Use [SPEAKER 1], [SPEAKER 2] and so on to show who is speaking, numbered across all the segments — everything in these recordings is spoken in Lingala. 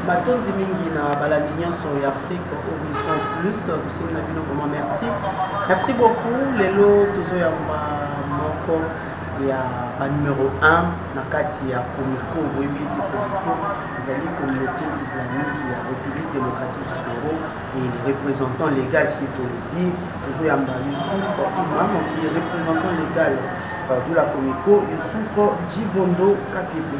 [SPEAKER 1] matondi mingi na balandi nyonso ya afrique horizon plus tosengi na bino vraiment merci merci beaucoup lelo tozoyamba moko ya banumero 1 na kati ya comico boyebi ete comico ezali communauté islamique ya république démocratique du congo et le représentant légal s'il faut le dire tozoyamba yusuf imam qui est représentant légal euh, de la comico yusuf jibondo kapepe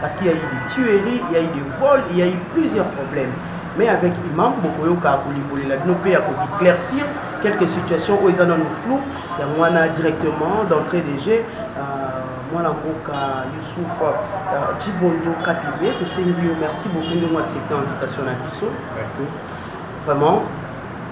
[SPEAKER 1] Parce qu'il y a eu des tueries, il y a eu des vols, il y a eu plusieurs problèmes. Mais avec Imam, bokoyoka kolimbolela bino mpe ya koéclaircir quelques situations oyo eza nano flou yango wana directement d'entrée de jeu mwana mboka yusuf cibondo euh, kapibe tosengi yo merci beaucoup ndenge oaccepte invitation na biso vraiment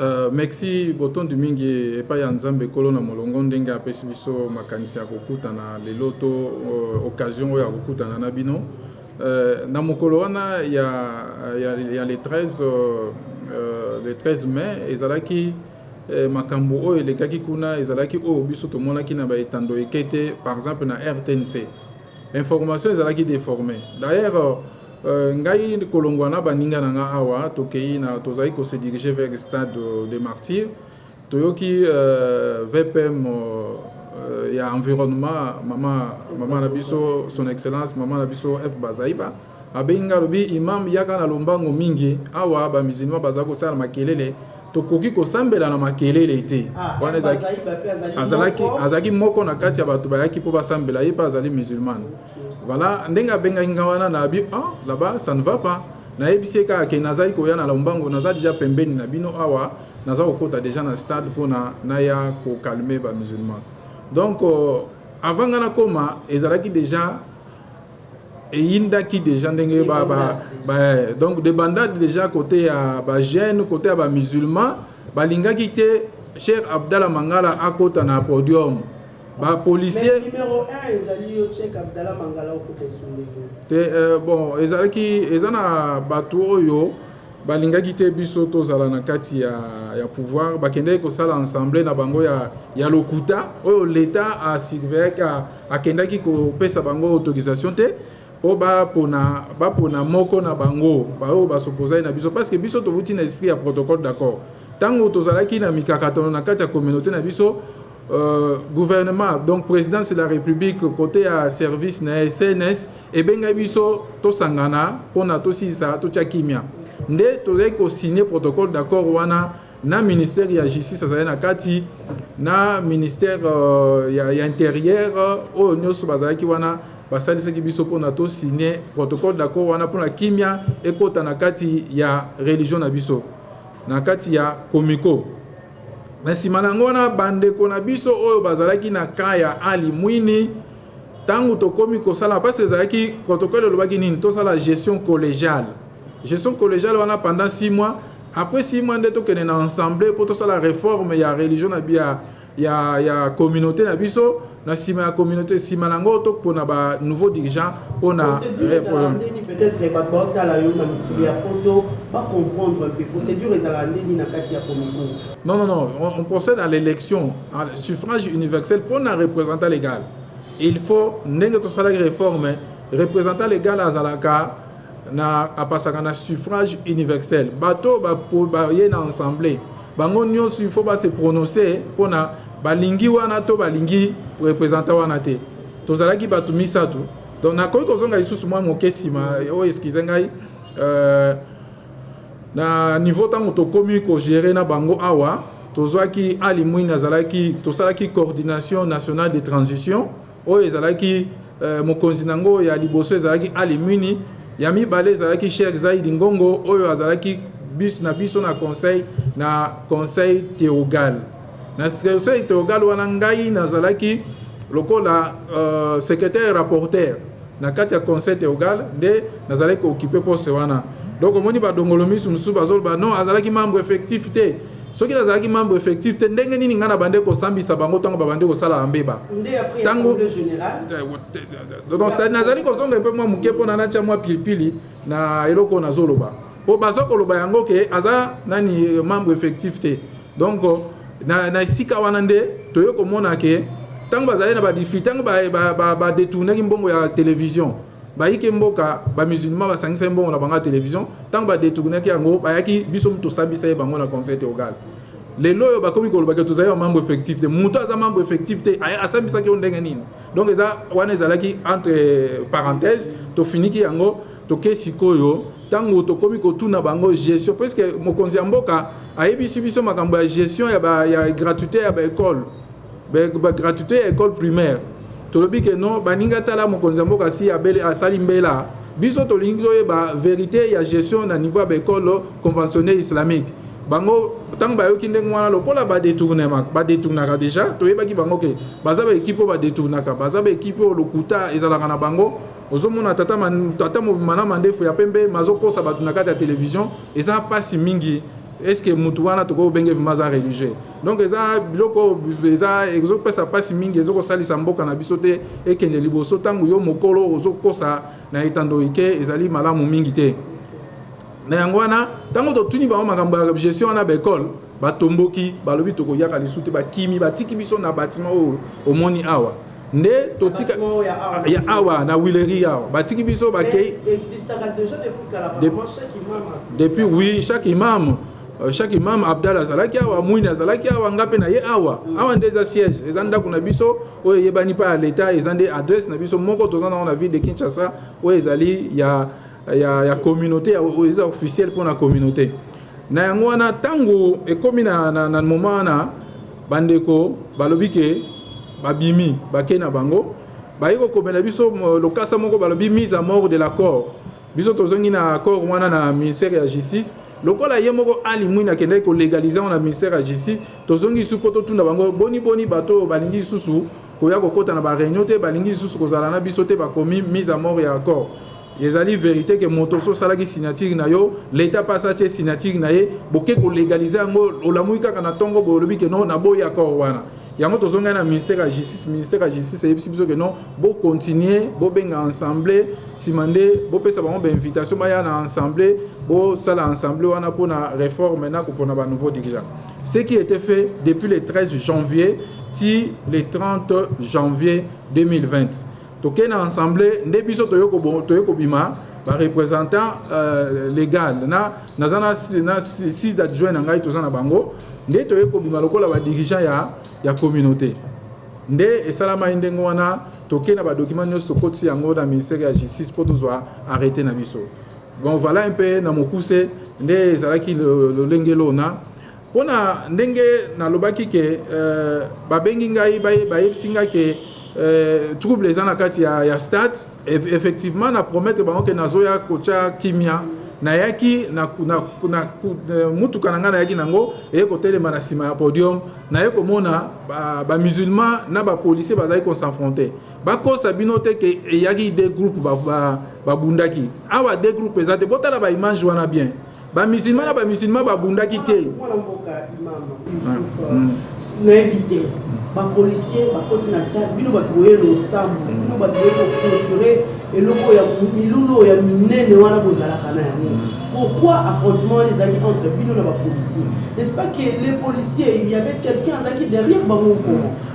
[SPEAKER 1] Euh, merci
[SPEAKER 2] botondi mingi epai ya nzambe ekolo na molongo ndenge apesi biso makanisi ya kokutana lelo to uh, occasion oyo ya kokutana na bino uh, na mokolo wana ya, ya, ya le 13 uh, le 13 mai ezalaki uh, makambo oyo elekaki kuna ezalaki oyo biso tomonaki na baetando eke te par exemple na rtnc information ezalaki déformée d'ailleurs Euh, ngai kolongwa na baninga na nga awa tokei na tozali ko se diriger vers stade de martyr toyoki euh, vpm euh, ya environnement mama mama na biso son excellence mama na biso f bazaiba abengi ngai alobi imam yaka na lombango mingi awa bamusulman baza kosala makelele tokoki kosambela na makelele te ah, wana azalaki moko na kati ya bato bayaki mpo basambela ye mpe azali musulmane Voilà, ndenge abengaki nga wana na abi ah là-bas ça ne va pas. Nayebisi ye kaka ke nazali koya na Lombango, naza deja pembeni na bino awa, naza kokota deja na stade mpona naya ko calmer ba musulmans. Donc euh, avant nga nakoma ezalaki deja eyindaki deja ndenge ba, ba, ba, eh, donc de bandade deja kote ya ba jeune kote ya ba musulmans balingaki te Cheikh Abdallah Mangala akota na podium. ba policier
[SPEAKER 1] te euh,
[SPEAKER 2] bon ezalaki eza na bato oyo balingaki te biso tozala na kati ya, ya pouvoir bakendaki kosala ensemble na bango ya, ya lokuta oyo leta asurveillaki akendaki kopesa bango autorisation te mpo bapona bapona moko na bango baoyo basopozaki na biso parce que biso tobuti na esprit ya protocole d'accord ntango tozalaki na mikakatano na kati ya communauté na biso Euh, gouvernement donc présidence de la république côté ya service na ye cns ebengaki biso tosangana mpona tosilisa totya kimia nde tozalaki kosigne protocole d'accord wana na ministère ya justice azali na kati na ministère euh, ya, ya intérieur oyo nyonso bazalaki wana basalisaki biso mpona tosigne protocole d'accord wana mpona kimia ekota na kati ya religion na biso na kati ya komiko Na nsima na yango, wana bandeko na biso oyo bazalaki na camp ya Ali Mwini, ntango tokomi kosala, mpasi ezalaki protocole elobaki nini, tosala gestion collegiale. Gestion collegiale wana pendant 6 mois, après 6 mois nde tokende na ensemble mpo tosala reforme ya religion na ya, ya, ya communauté na biso na nsima ya communauté nsima na yango topona ba nouveau dirigeant mpona peut-être bato baotala yo na mokili
[SPEAKER 1] ya poto bacomprendre mpe procédure ezalaka nde nini na kati ya komiko non non non on,
[SPEAKER 2] on procède à l'élection à suffrage universel mpona représentant légal il faut ndenge tosalaki réforme représentant légal azalaka na apasaka na suffrage universel bato baye na ensemble bango nyonso il faut base prononce mpo na balingi wana to balingi representant wana te tozalaki bato misato donc nakoki kozonga lisusu mwa moke nsima oyo oh, eskize ngai euh, na niveau ntango tokomi kogere na bango awa tozwaki ali mwini azalaki tosalaki coordination nationale de transition Oyo ezalaki euh, mokonzi na yango ya liboso ezalaki Ali Muni, ya mibale ezalaki Sheikh Zaidi Ngongo oyo azalaki bis na biso na conseil na conseil théogal na conseil théogal wana ngai nazalaki lokola euh, secrétaire rapporteur na kati ya conseil théogal nde nazalaki kookipe poste wana donc omoni badongolo misu mosusu bazoloba non azalaki membre effectif te soki nazalaki membre effectif te ndenge nini ngai nabande kosambisa bango ntango babande kosalaka mbeba ntango nazali kozonga mpe mwa moke mpo na natya mwa pilipili na eloko nazoloba mpo baza koloba yango ke aza nani eh, membre effectif te donc na, na esika wana nde toye komona ke ntango bazali na badifri ntango badetournaki ba, ba, ba mbongo ya television Bayike mboka ba musulmans basangisaki mbongo na bango ya television, tango ba detournaki yango bayaki biso mutu tosambisa ye bango na conseil theogal. Lelo oyo bakomi koloba ke tozali ba membre effectif te, mutu aza membre effectif te asambisaki yo ndenge nini? Donc eza wana ezalaki entre parenthèses tofiniki yango toke sikoyo tango tokomi kotuna bango gestion puisque mokonzi ya mboka ayebisi biso makambo ya gestion ya ba ya gratuite ya ba ecole Ba gratuite ya ecole primaire tolobi ke non baninga tala mokonzi ya mboka si abele asali mbela biso tolingi toyeba verite ya gestion na niveau ya baekole conventionne islamique bango ntango bayoki ndenge wana lokola badetournement badetournaka deja toyebaki bango ke baza baekipe oyo badetournaka baza baekipe oyo lokuta ezalaka na bango ozomona tata, man, tata mobima na mandefu ya pembe mazokosa bato na kati ya televizio eza mpasi mingi eske motu wana tokoki obenge vrima aza religieux donc eza biloko eza ezopesa mpasi mingi ezokosalisa mboka na biso te ekende liboso ntango yo mokolo ozokosa na etando ike ezali malamu mingi te na yango wana ntango totuni bango makambo ya gestion wana baekole batomboki balobi tokoyaka lisu te bakimi batiki biso na batima oyo omoni awa nde totika ya awa na wileri awa batiki biso bakei depuis oui chaque imam Euh, chaque imam abdal azalaki awa mwini azalaki awa nga mpe na ye awa awa nde eza siège eza ndako na biso oyo eyebani mpa ya leta eza nde adresse na biso moko toza nango na ville de kinshasa oyo ezali ya, ya, ya communauté oyo eza officiel mpo na communauté na yango wana ntango ekomi na, na, na moma wana bandeko balobi ke babimi bake na bango baye kokomela biso lokasa moko balobi mise à mort de l'accord Biso tozongi na accord wana na ministère ya justice lokola ye moko Ali Mwina akendaki ko legaliser yango na ministère ya justice. Tozongi lisusu mpo totuna bango boni boni bato oyo balingi lisusu koya kokota na ba réunion te, balingi lisusu kozala na biso te, bakomi mise à mort ya accord. Ezali verite ke moto so osalaki signature na yo l'etat mpe asala tie signature na ye, boke ko legaliser yango olamuki kaka na ntongo boye olobi ke non naboyi accord wana. yango tozongai na ministère ya justice ministère ya justice eyebisi biso ke non bocontinue bobenga ensemble nsima nde bopesa bango bainvitation baya na ensemble bosala ensemble wana mpo na réforme na kopona ba nouveau dirigeant ce qui était fait depuis le 13 janvier ti le 30 janvier 2020 toke na ensemble nde biso toye kobima ba représentant euh, légal na naza na, na six adjoint na ngai toza na bango nde toye kobima lokola ba dirigeant ya, ya communauté nde esalamaki ndenge wana toke na badocument nyonso tokotisi yango na ministère ya justice mpo tozwa arrete na biso bon voilà un peu na mokuse nde ezalaki lolenge lona Pona ndenge na lobaki ke ba bengi ngai ba yebisi ngai ke trouble eza na kati ya, ya stade effectivement na promettre bango ke nazoya kotia kimia nayaki na, na, na eh, mutuka na ngai nayaki nango eye kotelema na nsima ya podium naye komona bamusulman ba na bapolicier bazali kosenfronte bakosa bino te ke eyaki de groupe babundaki ba, ba awa de groupe eza te botala baimage wana bien ba musulman na ba musulman babundaki te mwana mboka imam
[SPEAKER 1] nayebi te bapolicier bakoti na sale bino bato boye losambo mm. bino bato boye koconture eloko ya milulu ya minene wana bozalaka na yango mm. pourquoi affrontement wana ezalaki entre bino na bapolicier n'est ce pas que les policiers il y avait quelqu'un azalaki derrière bango nkoma mm.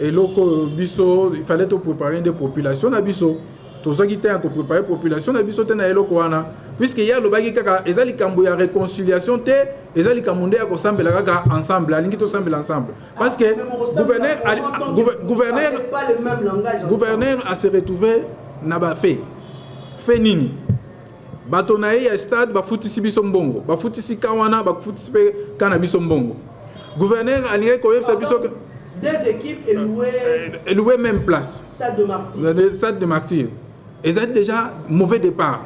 [SPEAKER 2] eloko oyo biso il fallait to préparer nde population na biso tozwaki temps ya ko préparer population na biso te na eloko wana puisque ye alobaki kaka eza likambo ya réconciliation te eza likambo nde ya kosambela kaka ensemble alingi tosambela ensemble parce que gouverneur gouverneur gouverneur a se retrouver na ba fait fait nini Bato na ye ya stade bafutisi biso mbongo, bafutisi ka wana, bafutisi pe ka na biso mbongo. Gouverneur alingaki koyebisa biso que deux équipes
[SPEAKER 1] et louer et louer
[SPEAKER 2] même place. Stade de Martyrs. Euh, stade de Martyrs. Ezali déjà mauvais départ.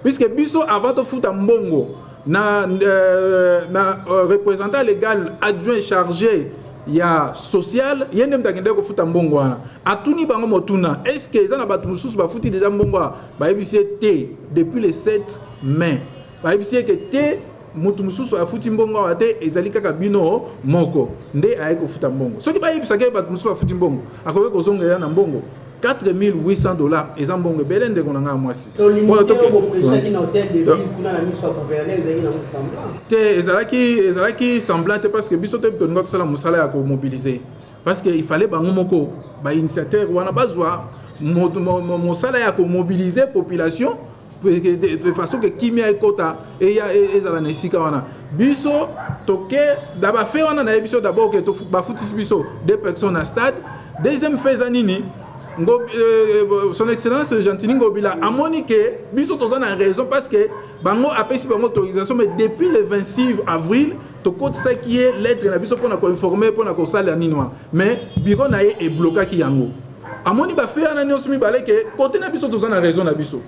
[SPEAKER 2] Puisque biso avant de foutre mbongo na euh, na euh, représentant légal adjoint chargé ya social ye nde moto akendaki kofuta mbongo wana atuni bango motuna est ce que eza na bato mosusu bafuti deja mbongo bayebisi ye te depuis le 7 mai bayebisi ye ke te moto mosusu afuti mbongo awa te ezali kaka bino moko nde ayaki kofuta mbongo soki bayebisaka ye bato mosusu afuti mbongo akoki kozongela na mbongo 4800 dollars eza mbongo ebele ndeko na ngai ya mwasi te ezalaki ezalaki semblant te parce que biso te tolinga tosala mosala ya komobilize parce que il fallait bango moko ba initiateur wana bazwa mosala ya komobilize population de façon ke kimia ekota eya e, ezala na esika wana biso toke na bafe wana na ye biso d'abord ke bafutisi biso deux personnes na stade deuxième fe eza nini Ngo, euh, son excellence gentini ngobila amoni ke biso toza na raison parce que bango apesi bango autorisation mais depuis le 26 avril tokotisaki ye lettre na biso mpona koinforme mpona kosalela nini wana mais biro na ye eblokaki yango amoni bafei wana nyonso mibale ke kote na biso toza na raison na biso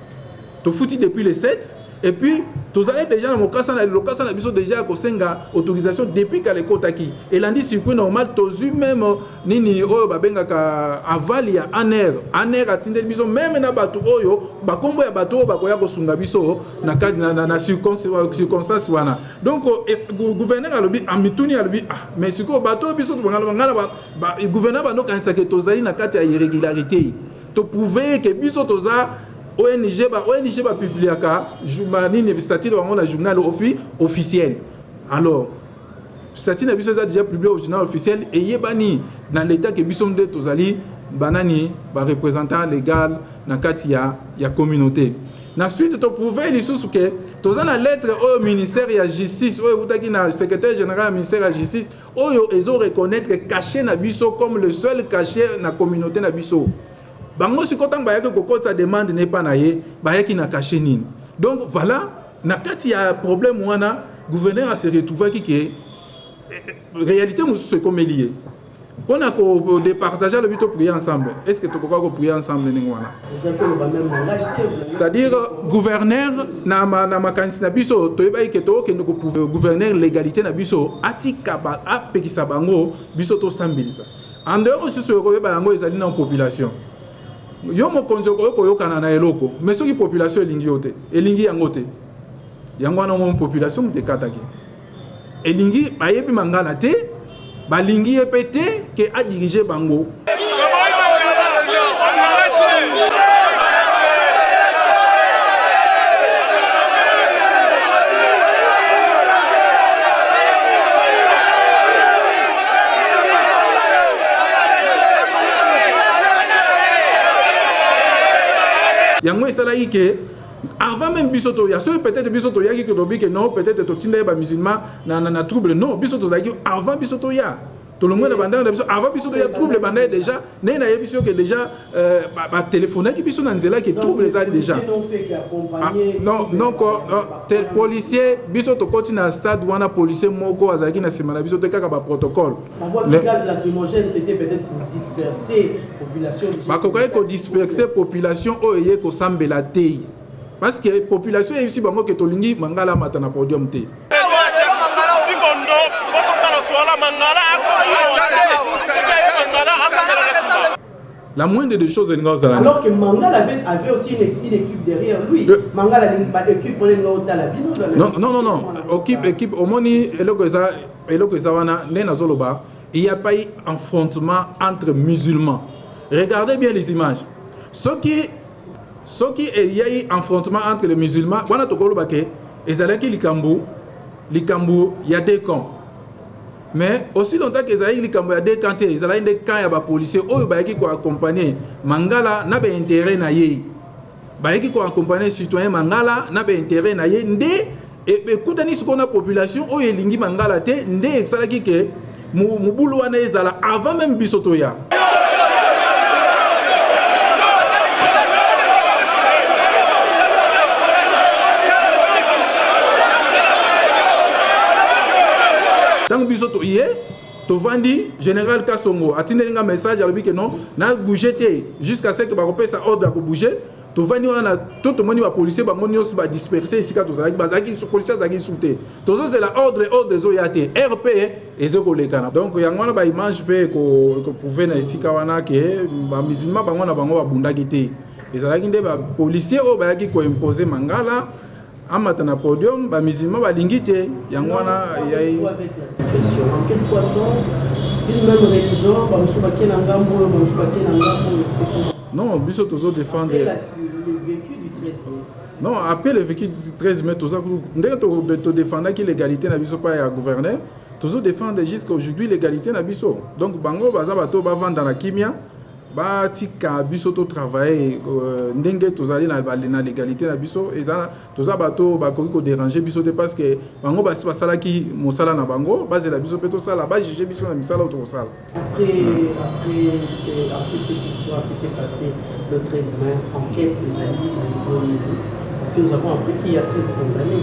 [SPEAKER 2] tofuti depuis le 7 et puis tozali deja na mokasa na lokasa na biso deja ya kosenga autorisation depuis kala ekotaki elandi circuit normal tozwi meme nini oyo babengaka aval ya aner aner atindeli biso meme na bato oyo bakombo ya bato oyo bakoya kosunga biso na kadi na, na, na circonstance wana donc eh, gouverneur alobi amituni alobi ah mais sikoyo bato oyo biso tobangana bangana ba, ba, gouverneur bando kanisake tozali na kati ya irrégularité toprouve ke biso toza ONG ba ONG ba publiaka nini statut bango na journal officiel alors Sati na biso eza deja publie au journal officiel eyebani na leta ke biso nde tozali banani ba représentant legal na kati ya, ya communauté na suite toprouve lisusu ke toza na lettre oyo ministère ya justice oyo eutaki na secrétaire général ya ministère ya justice oyo ezo reconnaître cachet na biso comme le seul cachet na communauté na biso bango sikoyo ntango bayaki kokotisa demande na epa na ye bayaki na cachet nini donc voilà Na kati ya problème wana, gouverneur a se retrouvaki que realite mosusu ekomeli ye mpo na ko departage alobi to prier ensemble est ce que tokoka ko prier ensemble ndenge wana c'est-à-dire gouverneur na, ma, na makanisi na biso toyebaki ke tokokende ko gouverneur légalité na biso atika ba, apekisa bango biso tosambelisa en dehors osusu oyo koyeba yango ezali na population yo mokonzi okoki koyokana na eloko me soki population elingi yo te elingi yango te yango wana omoni population moto ekataki elingi bayebi mangala te balingi ye mpe te ke adirige bango yango esalaki ke avant même biso toya soki peut-être biso toyaki tolobi ke non peut-être totindaki bamusulman na, na, na trouble non biso tozalaki avant biso toya tolongwe na bandako na biso avant biso toya trouble ebandaki déjà naye nayebisi yo ke déjà euh, batelefonaki biso na nzela ke trouble ezali déjà ah, non non tel policier biso tokoti na stade wana policier moko azalaki na nsima na biso te kaka baprotocole
[SPEAKER 1] bakokaki
[SPEAKER 2] kodisperse population oyo eye kosambela te parce que population eyebisi bango ke tolingi mangala amata na podium te la moindre des choses elinga ozala alors que mangala
[SPEAKER 1] avait, avait aussi une, une équipe derrière lui Le... mangala
[SPEAKER 2] équipe olinga
[SPEAKER 1] otala
[SPEAKER 2] bino non non non non équipe équipe
[SPEAKER 1] omoni
[SPEAKER 2] eloko eza Eloko eza wana nde nazo loba il y a pas affrontement entre musulmans. Regardez bien les images. Soki soki eyei affrontement entre les musulmans wana tokoloba ke ezalaki likambo likambo ya deux camps mais aussi longtemps ke ezalaki likambo ya deux camps te ezalaki nde camp ya bapolicier oyo bayaki koaccompagne mangala na bainteret na ye bayaki ko accompagner citoyen Mangala na ba intérêt na ye nde ekutani sikoyo na population oyo elingi Mangala te nde esalaki ke mobulu wana ezala avant même biso toya ntango biso toye tovandi general kasongo atindeli nga message alobi ke non na bouge te jusqu'à ce que bakopesa ordre ya kobouge tovandi wana na to tomoni bapolisier bango nyonso badisperse esika tozalaki bazalaki polisier azalaki lisu te tozozela ordre ordre ezoya te rp ezo kolekana donc yango wana baimage mpe ekoprouve na esika wana ke bamusulman bango na bango babundaki te ezalaki nde bapolisier oyo bayaki koimpose mangala amata na podium ba musulman balingi te yango wana yai
[SPEAKER 1] non biso tozo
[SPEAKER 2] défendre
[SPEAKER 1] non après le
[SPEAKER 2] vécu 13 mai toza ndenge todefendaki l'égalité na biso pa ya gouverneur tozo défendre jusqu'à aujourd'hui l'égalité na biso donc bango baza bato bavanda na kimia batika biso to travailler euh, ndenge tozali na, na legalité na biso eza toza bato bakoki koderange biso te parce que bango basi basalaki mosala na bango bazela biso mpe tosala bajuge biso na misala oyo tokosala Parce que
[SPEAKER 1] nous avons appris qu'il y a 13 condamnés.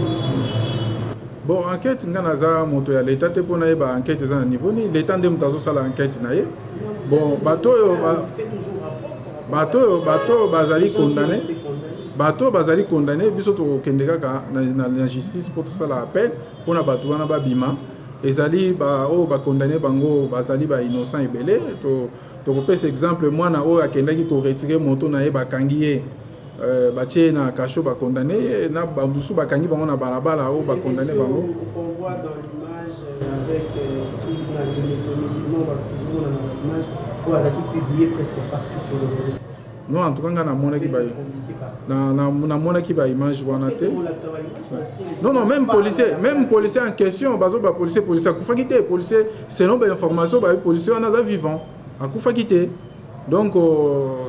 [SPEAKER 2] bon enquête ngai naza moto ya leta te mpo nayeba enquête eza na niveau nini leta nde moto azosala enquête na ye bon bato oyo bato oyo bato oyo bazali condamne bato oyo bazali condamne biso tokokende kaka na justice mpo tosala appel mpo na bato wana babima ezali baoyo bakondane bango bazali ba innocent ebele tokopesa exemple mwana oyo akendaki koretire moto na ye bakangi ye Euh, batie ye na kasho bakondane ye eh, na bamosusu bakangi bango na balabala oyo bakondane bango
[SPEAKER 1] non en tout cas ngai
[SPEAKER 2] namonaki ba namonaki ba image wana te non non même policier même policier en question bazo ba policier policier akufaki te policier selon ba information bayebi policier wana aza vivant Akufaki te donc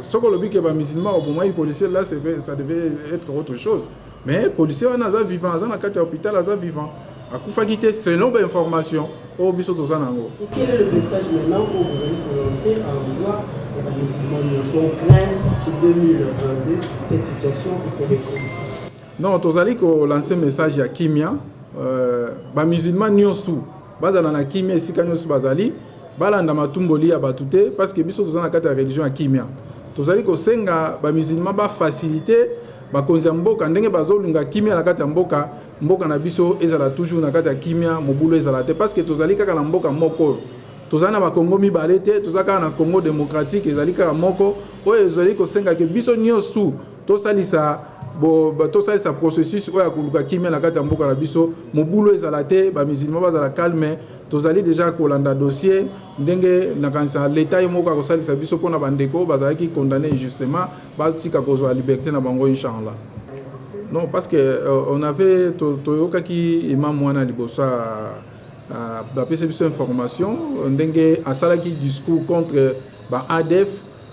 [SPEAKER 2] soki olobi ke ba musulman obomaki policier là ça devait être autre chose mais policier wana aza vivant aza na kati ya hôpital aza vivant akufaki te selon ba information oyo biso toza na yango quel est le message
[SPEAKER 1] maintenant oyo bozali kolancer à l'endroit ya ba musulman nyonso on craint que 2022 cette situation se recouvre non tozali
[SPEAKER 2] kolancer message ya kimia euh, ba musulman nyonso tout Bazala na kimia esika nyonso bazali, balanda matumboli ya bato te, paske biso toza na kati ya religion ya kimia. Tozali kosenga ba musulman ba facilite bakonzi ya mboka ndenge bazolinga kimia na kati ya mboka, mboka na biso ezala toujours na kati ya kimia, mobulu ezala te, paske tozali kaka na mboka moko oyo tozali na bakongo mibale te, toza kaka na Congo demokratike ezali kaka moko oyo ezali kosenga ke biso nyonso Tosalisa bo tosalisa processus oyo ya koluka kimia na kati ya mboka na biso, mobulu ezala te, ba musulmans bazala calme. Tozali deja kolanda dossier ndenge nakanisa leta ye moko akosalisa biso mpo na bandeko bazalaki condamne injustement batika kozwa liberte na bango inshallah. Non, parce que euh, on avait toyokaki imam wana liboso bapesa biso information ndenge asalaki discours contre ba ADF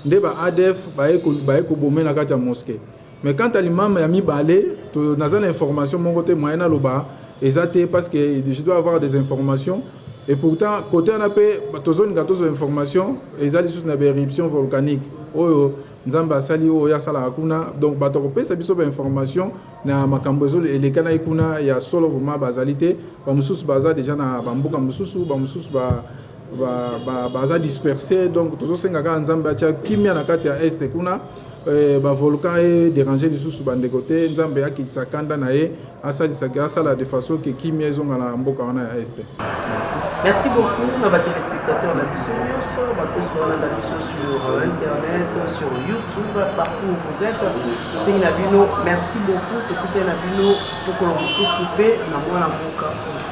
[SPEAKER 2] nde ba adf baye ko baye ko bombe na kati ya mosquee mais quant à l'imam ya mibale to naza na information moko te moyen na loba eza te parce que je dois avoir des informations et pourtant côté wana pe tozolinga tozwa information eza lisusu na ba éruption volcanique oyo nzambe asali oyo asalaka kuna donc bato akopesa biso ba information na makambo ezo elekanaki kuna ya solo vraiment bazali te bamosusu baza deja na bamboka mosusu bamosusu ba baza disperse donc tozosenga kaka nzambe atya kimia na kati ya este kuna eh, bavolcan e dérange lisusu bandeko te nzambe akitisa kanda na ye asalisaki asala de façon ke kimia ezonga na mboka wana ya este Merci
[SPEAKER 1] beaucoup na ba téléspectateurs na biso nyonso bakosi kolanda biso sur euh, internet sur youtube partout où vous êtes tosengi na bino merci beaucoup tokutani na bino mokolo mosusu mpe na mwana mboka mosusu